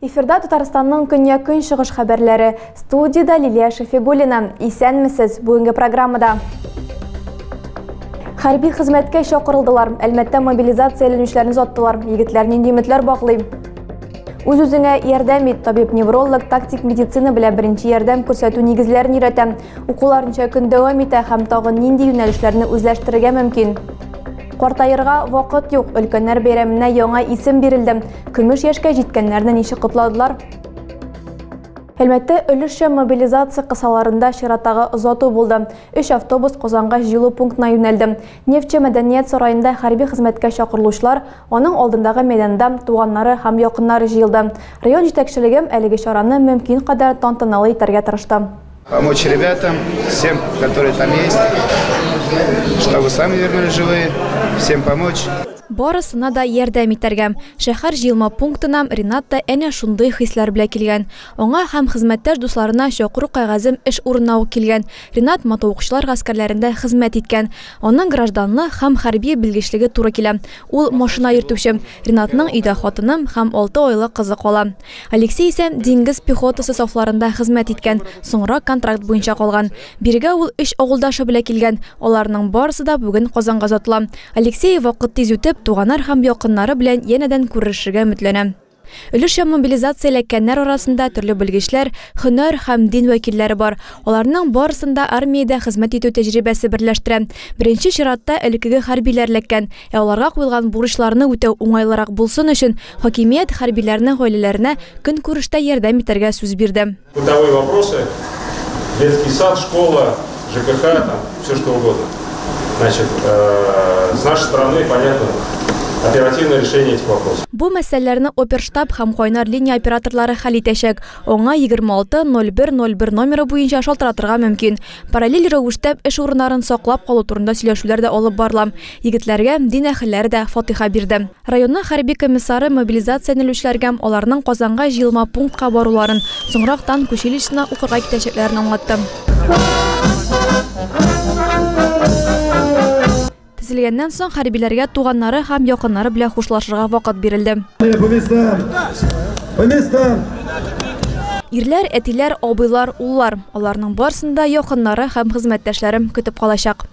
Эфирда Татарстанның көньяк көнчыгыш хәбәрләре. Студияда Лилия Шефигулина. Исәнмесез бүгенге программада. Хәрби хезмәткә чакырылдылар. Әлмәттә мобилизация эленүчләрен заттылар. Егетләр нинди өметләр баглый? Үз үзеңә ярдәм ит, табиб-невролог тактик медицина белән беренче ярдәм күрсәтү нигезләрен өйрәтә. Укулар ничә көн дәвам итә һәм тагын нинди юнәлешләрне үзләштерергә мөмкин? Картаерга вакыт юк, өлкәннәр бәйрәменә яңа исем бирелде. Көмеш яшькә җиткәннәрне ничек котладылар? Әлмәттә өлешчә мобилизация кысаларында чираттагы озату булды. Өч автобус Казангач җылу пунктына юнәлде. Нефтьче мәдәният сараенда хәрби хезмәткә чакырылучылар Аның алдындагы мәйданда туганнары һәм якыннары җыелды. Район җитәкчелеге әлеге чараны мөмкин кадәр тантаналы итәргә тырышты. Помочь ребятам, всем, которые там есть, чтобы сами вернулись живые, всем помочь. Барысына да ярдәм итәргә. Шәһәр җыелма пунктына Ринат та әнә шундый хисләр белә килгән. Аңа һәм хезмәттәш дусларына чакыру кәгазем эш урынына ук килгән. Ринат мотоукчылар гаскәрләрендә хезмәт иткән. Аның гражданлы һәм хәрби белгечлеге туры килә. Ул, машина йөртүче. Ринатның өйдә хатыны һәм алты айлык кызы кала. Алексей исә диңгез пехотасы сафларында хезмәт иткән, соңрак контракт буенча калган. Бирегә ул өч авылдашы белән килгән. Аларның барысы да бүген Казанга озатыла. Алексей, вакыт тиз үтеп, туганар һәм якыннары белән янәдән күрешергә өметләнә. Өлешчә мобилизация эләккәннәр арасында төрле белгечләр, һөнәр һәм дин вәкилләре бар. Аларның барысын да армиядә хезмәт итү тәҗрибәсе берләштерә. Беренче чиратта элеккеге хәрбиләр эләккән, ә аларга куелган бурычларны үтәү уңайлырак булсын өчен, хакимият хәрбиләрнең гаиләләренә көнкүрештә ярдәм итәргә сүз бирде. Бытовые вопросы, детский сад, школа, ЖКХ, там, все что угодно. Значит, э, с нашей стороны, понятно, оперативное решение этих вопросов. Бу мәсьәләләрне оперштаб һәм кайнар линия операторлары хәл итәчәк. Аңа 26-01-01 номеры буенча шалтыратырга мөмкин. Параллель рәвештә эш урыннарын саклап калу турында сөйләшүләр дә алып барыла. Егетләргә дин әһелләре дә фатиха бирде. Районның хәрби комиссары мобилизациянелүчеләргәм аларның Казанга җыелма пунктка баруларын, соңрак танк училищесына укырга китәчәкләрен аңлатты. Тезелгәннән соң хәрбиләргә туганнары һәм якыннары белән хушлашырга вакыт бирелде. Ирләр, әтиләр, абыйлар, уллар, аларның барсын да якыннары һәм хезмәттәшләре көтеп калачак.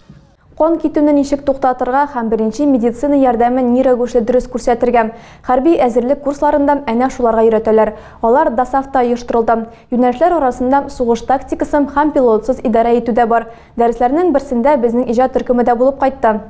Кан китүне ничек туктатырга һәм беренче медицина ярдәмен ни рәвешле дөрес күрсәтергә? Хәрби әзерлек курсларында әнә шуларга өйрәтәләр. Алар ДОСААФта оештырылды. Юнәлешләр арасында сугыш тактикасым һәм пилотсыз идарә итү дә бар. Дәресләрнең берсендә безнең иҗат төркеме дә булып кайтты.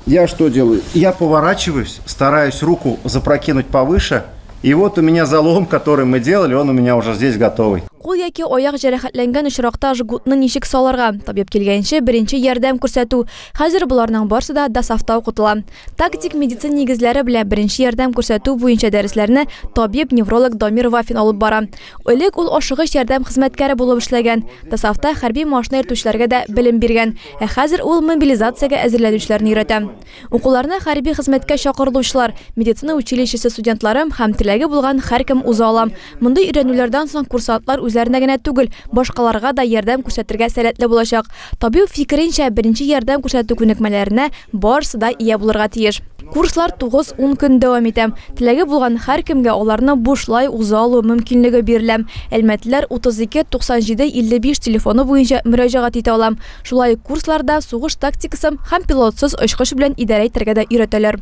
Я что делаю? Я поворачиваюсь, стараюсь руку запрокинуть повыше, И вот у меня залом, который мы делали, он у меня уже здесь готовый. Кул яки аяк җәрәхәтләнгән очракта жгутны ничек салырга? Табиб килгәнче беренче ярдәм күрсәтү. Хәзер буларның барсы да ДАСАФта укытыла. Тактик медицин нигезләре белән беренче ярдәм күрсәтү буенча дәресләрне табиб-невролог Дамир Вафин алып бара. Элек ул ашыгыч ярдәм хезмәткәре булып эшләгән. ДАСАФта хәрби машина йөртүчеләргә дә белем биргән. Ә хәзер ул мобилизациягә әзерләнүчеләрне өйрәтә. Укуларына хәрби хезмәткә чакырылучылар, медицина училищесы студентлары һәм теләге булган һәркем уза ала. Мондый өйрәнүләрдән соң курсантлар үзләренә генә түгел, башкаларга да ярдәм күрсәтергә сәләтле булачак. Табиб фикеренчә, беренче ярдәм күрсәтү күнекмәләренә барысы да ия булырга тиеш. Курслар тугыз-ун көн дәвам итә. Теләге булган һәркемгә аларны бушлай уза алу мөмкинлеге бирелә. Әлмәтлеләр 32 97 55 телефоны буенча мөрәҗәгать итә ала. Шулай ук курсларда сугыш тактикасын һәм пилотсыз очкыч белән идарә итәргә дә өйрәтәләр.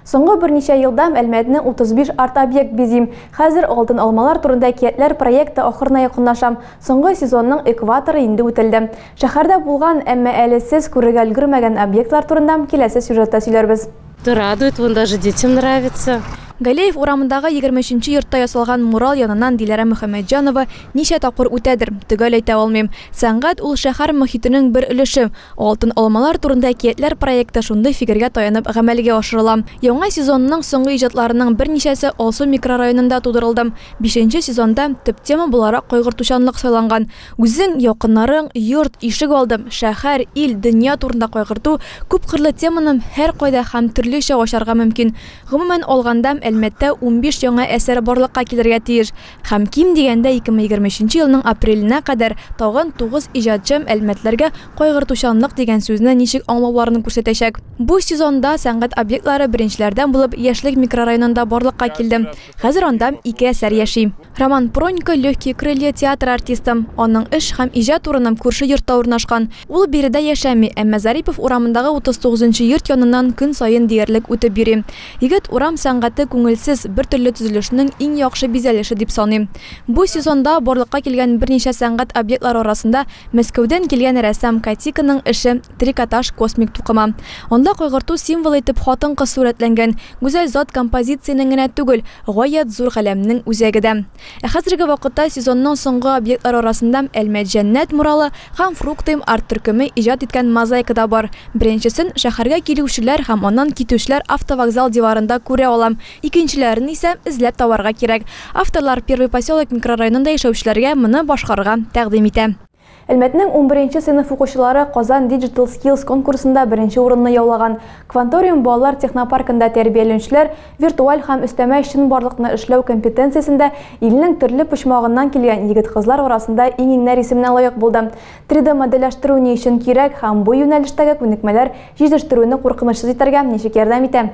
Соңгы берничә елда Мәлмәтне 35 арт-объект бизим. Хәзер Алтын алмалар турында әкиятләр проекты ахырына якынлашам. Соңгы сезонның экваторы инде үтелде. Шәһәрдә булган, әмма әле сез күрергә өлгермәгән объектлар турында киләсе сюжетта сөйләрбез. То радует, вон даже детям нравится. Галеев урамындагы егерме өченче йортта ясалган мурал яныннан Диләрә Мөхәммәтҗанова ничә тапкыр үтәдер, төгәл әйтә алмыйм. Сәнгать ул шәһәр мохитенең бер өлеше. Алтын алмалар турында әкиятләр проекты шундый фикергә таянып гамәлгә ашырыла. Яңа сезонның соңгы иҗатларының берничәсе Алсу микрорайонында тудырылды. Бишенче сезонда төп тема буларак кайгыртучанлык сайланган. Үзең, якыннарың, йорт, ишек алдым, шәһәр, ил, дөнья турында кайгырту, күпкырлы теманым һәркайда һәм төрлечә ачарга мөмкин. Гомумән алгандам Әлмәттә унбиш яңа әсәр барлыкка килергә тиеш һәм ким дигәндә ике мең егерме өченче елның апреленә кадәр тагын тугыз иҗатчым әлмәтләргә кайгыртучанлык дигән сүзне ничек аңлауларын күрсәтәчәк. Бу сезонда сәнгать объектлары беренчеләрдән булып Яшьлек микрорайонында барлыкка килде. Хәзер анда ике әсәр яши. Роман Пронько, Легкие крылья театры артисты. Аның эш һәм иҗат урыны күрше йортта урнашкан. Ул биредә яшәми, әмма Зарипов урамындагы 39 нчы йорт яныннан көн саен диярлек үтеп йөри. Егет урам сәнгате күңелсез, бертөрле төзелешнең иң яхшы бизәлеше дип саный. Бу сезонда барлыкка килгән берничә сәнгать объектлары арасында Мәскәүдән килгән рәссам Катиконың эше Трикотаж, космик тукыма. Анда кайгырту символы итеп хатын-кыз сурәтләнгән. Гүзәл зат композициянең генә түгел, гаять зур галәмнең үзәге дә. Ә хәзерге вакытта сезонның соңгы объектлары арасында Әлмәт Җәннәт муралы һәм Фруктыйм арт-төркеме иҗат иткән мозаика да бар. Беренчесен шәһәргә килүчеләр һәм аннан китүчеләр автовокзал диварында күрә ала, икенчеләрен исә эзләп табарга кирәк. Авторлар Первый поселок микрорайонында яшәүчеләргә моны башкарырга тәкъдим итә. Әлмәтнең унберенче сыйныф укучылары Казан Digital Skills конкурсында беренче урынны яулаган. Кванториум балалар технопаркында тәрбияләнүчеләр виртуаль һәм өстәмә чынбарлыкны эшләү компетенциясендә илнең төрле почмагыннан килгән егет-кызлар арасында иң-иңнәр исеменә лаек булды. 3D модельләштерү ни өчен кирәк һәм бу юнәлештәге күнекмәләр җитештерүне куркынычсыз итәргә ничек ярдәм итә?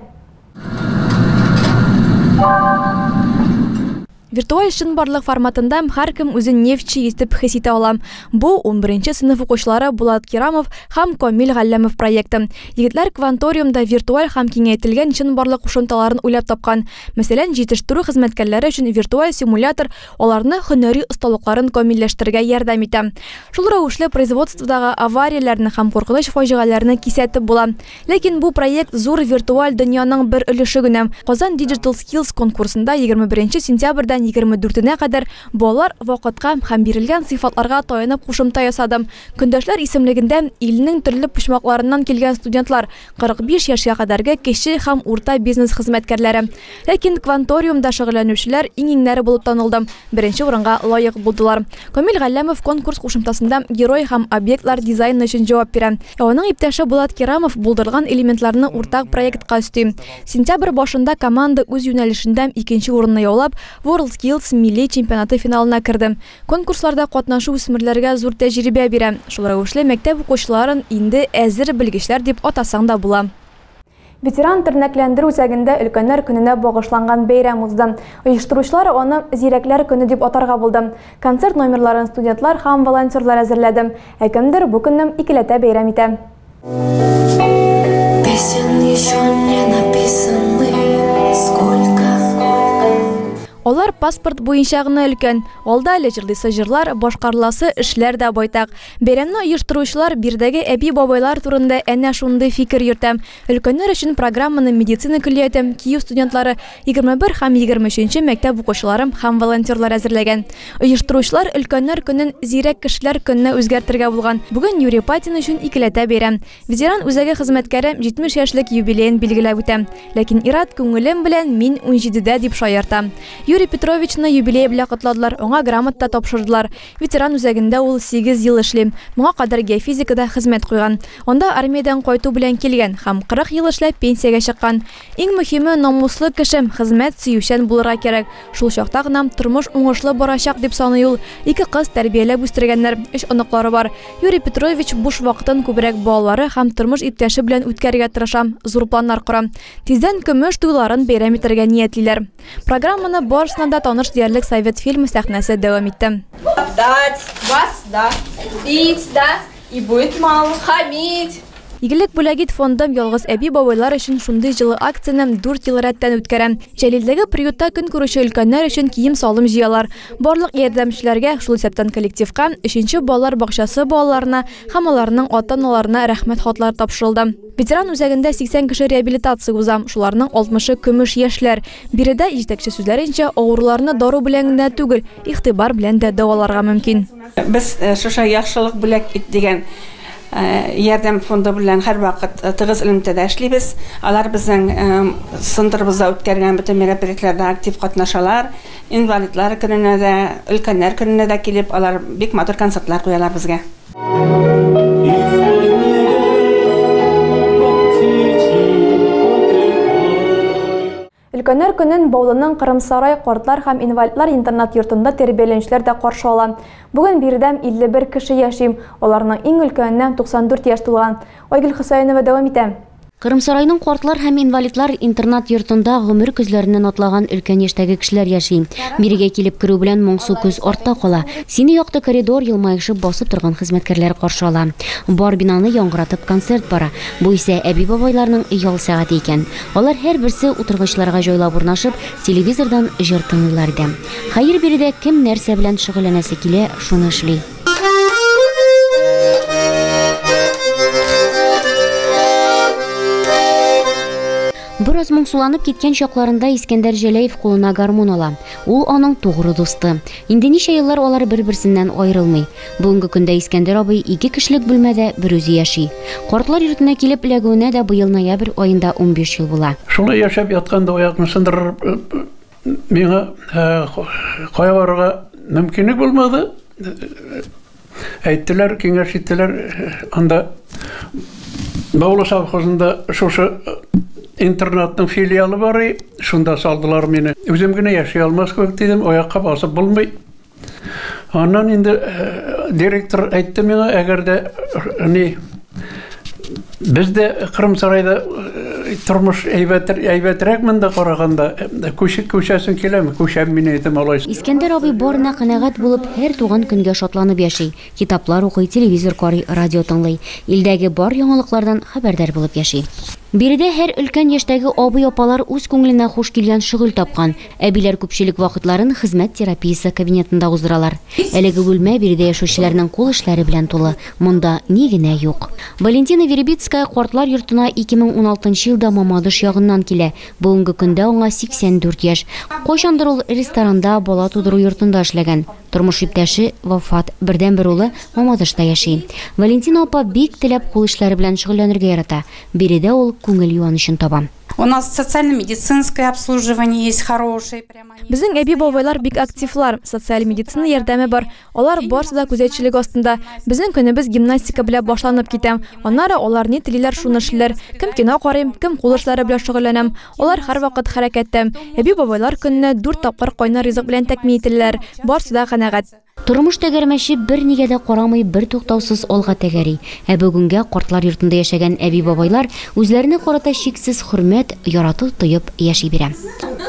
Виртуаль чынбарлык форматында һәркем үзен нефтьче итеп хис итә ала. Бу, унберенче сыйныф укучылары Булат Кирамов һәм Комил Галләмов проекты. Егетләр Кванториумда виртуаль һәм киңәйтелгән чынбарлык кушымталарын уйлап тапкан. Мәсәлән, җитештерү хезмәткәрләре өчен виртуаль симулятор аларны һөнәри осталыкларын камилләштерергә ярдәм итә. Шул рәвешле производстводагы аварияләрне һәм куркыныч фаҗигаләрне кисәтеп була. Ләкин бу проект зур виртуаль дөньяның бер өлеше генә. Казан Digital Skills конкурсында егерме беренче сентябрьдән егерме дүртенә кадәр балалар вакытка һәм бирелгән сыйфатларга таянып кушымта ясады. Көндәшләр исемлегендә илнең төрле почмакларыннан килгән студентлар, 45 яшькә кадәрге кече һәм урта бизнес хезмәткәрләре, Ләкин кванториумда шөгыльләнүчеләр иң-иңнәре булып танылды, беренче урынга лаек булдылар. Камил Галләмов конкурс кушымтасында герой һәм объектлар дизайны өчен җавап бирә. Ә аның иптәше Булат Кирамов булдырылган элементларны уртак проектка өсти. Сентябрь башында команда үз юнәлешендә икенче урынны яулап, WorldSkills милли чемпионаты финалына керде. Конкурсларда катнашу үсмерләргә зур тәҗрибә бирә. Шул рәвешле мәктәп укучыларын инде әзер белгечләр дип атасаң да була. Ветеран тернәкләндерү үзәгендә Өлкәннәр көненә багышланган бәйрәм узды. Оештыручылар аны Зирәкләр көне дип атарга булды. Концерт номерларын студентлар һәм волонтерлар әзерләде. Ә кемдер бу көнне икеләтә бәйрәм итә. Алар паспорт буенча гына өлкән. Алда әле җырлыйсы җырлар, башкарыласы эшләр дә байтак. Бәйрәмне оештыручылар биредәге әби-бабайлар турында әнә шундый фикер йөртә. Өлкәннәр өчен программаны медицина көллияте, КИЮ студентлары, 21 һәм 23 нче мәктәп укучылары һәм волонтерлар әзерләгән. Оештыручылар Өлкәннәр көнен Зирәк кешеләр көненә үзгәртергә булган. Бүген Юрий Патин өчен икеләтә бәйрәм. Ветеран үзәге хезмәткәре 70 яшьлек юбилеен билгеләп үтә. Ләкин ир-ат күңелем белән мин унҗидедә дип шаярта. Юрий Петровичны юбилее белән котладылар, аңа грамота тапшырдылар. Ветеран үзәгендә ул сигез ел эшли. Моңа кадәр геофизикада хезмәт куйган. Анда армиядән кайту белән килгән һәм 40 ел эшләп пенсиягә чыккан. Иң мөһиме, намуслы кеше, хезмәт сөючән булырга кирәк. Шул чакта гына тормыш уңышлы барачак, дип саный ул. Ике кыз тәрбияләп үстергәннәр, өч оныклары бар. Юрий Петрович буш вакытын күбрәк балалары һәм тормыш иптәше белән үткәрергә тырыша, зур планнар кора. Тиздән көмеш туйларын бәйрәм итәргә ниятлиләр. Программаны барысына да таныш диярлек Совет фильмы сәхнәсе дәвам итте. Дать, вас, да, бить, да, и будет мало, хамить. Игелек бүләгит фондым ялгыз әби-бабайлар өчен шундый җылы акцияне 4 ел рәттән үткәрә. Җәлилдәге приютта көн күрүче өлкәннәр өчен кием-салым җыялар. Барлык ярдәмчеләргә, шул исәптән коллективка, өченче балалар бакчасы балаларына һәм аларның ата-аналарына рәхмәт хатлары тапшырылды. Ветеран үзәгендә 80 кеше реабилитация уза. Шуларның 60-ы көмеш яшьләр. Биредә җитәкче сүзләренчә, авыруларны дару белән генә түгел, игътибар белән дә дәваларга мөмкин. Без шушы Яхшылык бүләк ит дигән ярдәм фонды белән һәрвакыт тыгыз элемтәдә эшлибез. Алар безнең центрыбызда үткәргән бөтен мероприятиеләрдә актив катнашалар. Инвалидлар көненә дә, өлкәннәр көненә дә килеп, алар бик матур концертлар куялар безгә. Өлкәннәр көнен Баулының Кырымсарай картлар һәм инвалидлар интернат-йортында тәрбияләнүчеләр дә каршы ала. Бүген биредә 51 кеше яши, аларның иң өлкәненә 94 яшь тулган. Айгөл Хөсәенова дәвам итә. Кырымсарайның картлар һәм инвалидлар интернат-йортында гомер көзләреннән атлаган өлкән яшьтәге кешеләр яши. Бирегә килеп керү белән моңсу көз артта кала. Сине якты коридор, елмаешып басып торган хезмәткәрләр каршы ала. Бар бинаны яңгыратып концерт бара. Бу исә әби-бабайларның ял сәгате икән. Алар һәрберсе утыргычларга җайлап урнашып, телевизордан җыр тыңлыйлар иде. Хәер, биредә кем нәрсә белән шөгыльләнәсе килә, шуны эшли. Бераз моңсуланып киткән чакларында Искәндәр Җәләев кулына гармун ала. Ул аның тугры дусты. Инде ничә еллар алар бер-берсеннән аерылмый. Бүгенге көндә Искәндәр абый ике кешелек бүлмәдә берүзе яши. Картлар йортына килеп эләгүенә дә быел ноябрь аенда 15 ел була. Шулай яшәп ятканда аякны сындырып Миңа кая барырга мөмкинлек булмады. Әйттеләр, киңәш иттеләр, анда Баулы совхозында шушы интернатның филиалы бар, шунда салдылар мине. Үзем генә яши алмас кебек дидем, аякка басып булмый. Аннан инде э, директор әйтте миңа, әгәр дә э, ни без дә Кырым сарайда э, тормыш әйбәт әйбәтрәк монда караганда күче күчәсен киләме? Күчәм мин әйтем алай. Искәндәр абый барына канәгать булып, һәр туган көнгә шатланып яши. Китаплар укый, телевизор карый, радио тыңлый. Илдәге бар яңалыклардан хәбәрдар булып яши. Биредә һәр өлкән яшьтәге абый-апалар үз күңеленә хуш килгән шөгыль тапкан. Әбиләр күпчелек вакытларын хезмәт терапиясе кабинетында уздыралар. Әлеге бүлмә биредә яшәүчеләрнең кул эшләре белән тулы, монда ни генә юк. Валентина Веребицкая картлар йортына 2016 елда Мамадыш ягыннан килә, бүгенге көндә аңа 84 яшь. Кайчандыр ул ресторанда, бала тудыру йортында эшләгән. Тормыш иптәше вафат, бердәнбер улы Мамадышта яши. Валентина апа бик теләп кул эшләре белән шөгыльләнергә ярата, биредә ул күңел юанычын таба. Безнең әби-бабайлар бик активлар, социаль медицина ярдәме бар, алар барсы да күзәтчелек астында. Безнең көнебез гимнастика белән башланып китә. Аннары алар ни телиләр, шуны эшлиләр. Кем кино карый, кем кул эшләре белән шөгыльләнә. Алар һәрвакыт хәрәкәттә. Әби-бабайлар көненә дүрт тапкыр кайнар ризык белән тәэмин ителәләр. Барсы да канәгать. Тормыш тәгәрмәче бернигә дә карамый бертуктаусыз алга тәгәри, ә бүгенгә картлар йортында яшәгән әби-бабайлар үзләренә карата чиксез хөрмәт, ярату тоеп яши бирә.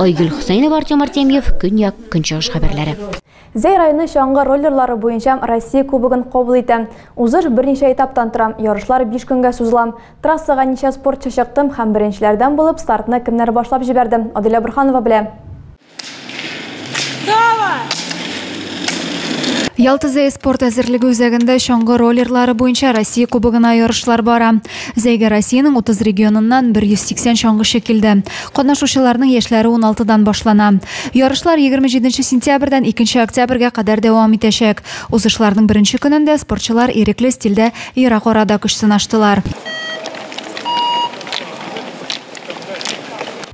Айгөл Хөсәенова, Артем Артемьев, Көньяк, Көнчыгыш хәбәрләре. Зәй районы чаңгы роллерлары буенча Россия Кубогын кабул итә. Узыш берничә этаптан тора, ярышлар биш көнгә сузыла. Трассага ничә спортчы чыкты һәм беренчеләрдән булып стартны кемнәр башлап җибәрде, Аделя Борһанова белә. Ялта Зәй спорт әзерлеге үзәгендә чаңгы роллерлары буенча Россия кубогына ярышлар бара. Зәйгә Россиянең 30 регионыннан 180 чаңгычы килде. Катнашучыларның яшьләре 16-дан башлана. Ярышлар 27 сентябрьдән 2 октябрьгә кадәр дәвам итәчәк. Узышларның беренче көнендә спортчылар ирекле стильдә ерак арада көч сынаштылар.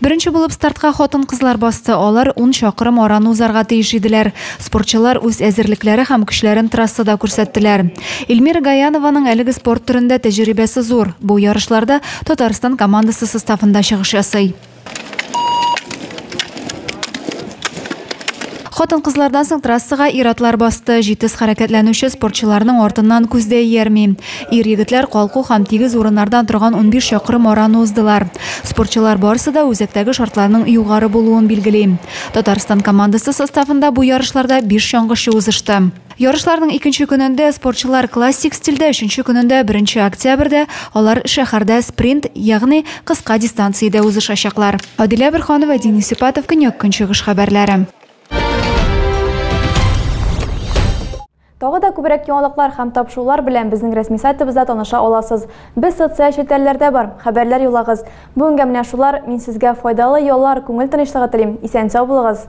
Беренче булып стартка хатын-кызлар басты. Алар 10 чакрым араны узарга тиеш иделәр. Спортчылар үз әзерлекләре һәм көчләрен трассада күрсәттеләр. Эльмира Гаянованың әлеге спорт төрендә тәҗрибәсе зур. Бу ярышларда Татарстан командасы составында чыгыш ясый. Хатын-кызлардан соң трассага ир-атлар басты. Җитез хәрәкәтләнүче спортчыларның артыннан күз дә иярми. Ир-егетләр калку һәм тигез урыннардан торган унбиш чакрым араны уздылар. Спортчылар барысы да үзәктәге шартларның югары булуын билгели. Татарстан командасы составында бу ярышларда биш чаңгычы узышты. Ярышларның икенче көнендә спортчылар классик стильдә, өченче көнендә, беренче октябрьдә, алар шәһәрдә спринт, ягъни кыска дистанциядә узышачаклар. Адилә Бөрханова, Денис Сипатов, Көньяк-Көнчыгыш хәбәрләре. Тагы да күбрәк яңалыклар һәм тапшырулар белән безнең рәсми сайтыбызда таныша аласыз. Без социаль челтәрләрдә бар, хәбәрләр юллагыз. Бүгенгә менә шулар, мин сезгә файдалы яллар, күңел тынычлыгы телим. Исән-сау булыгыз!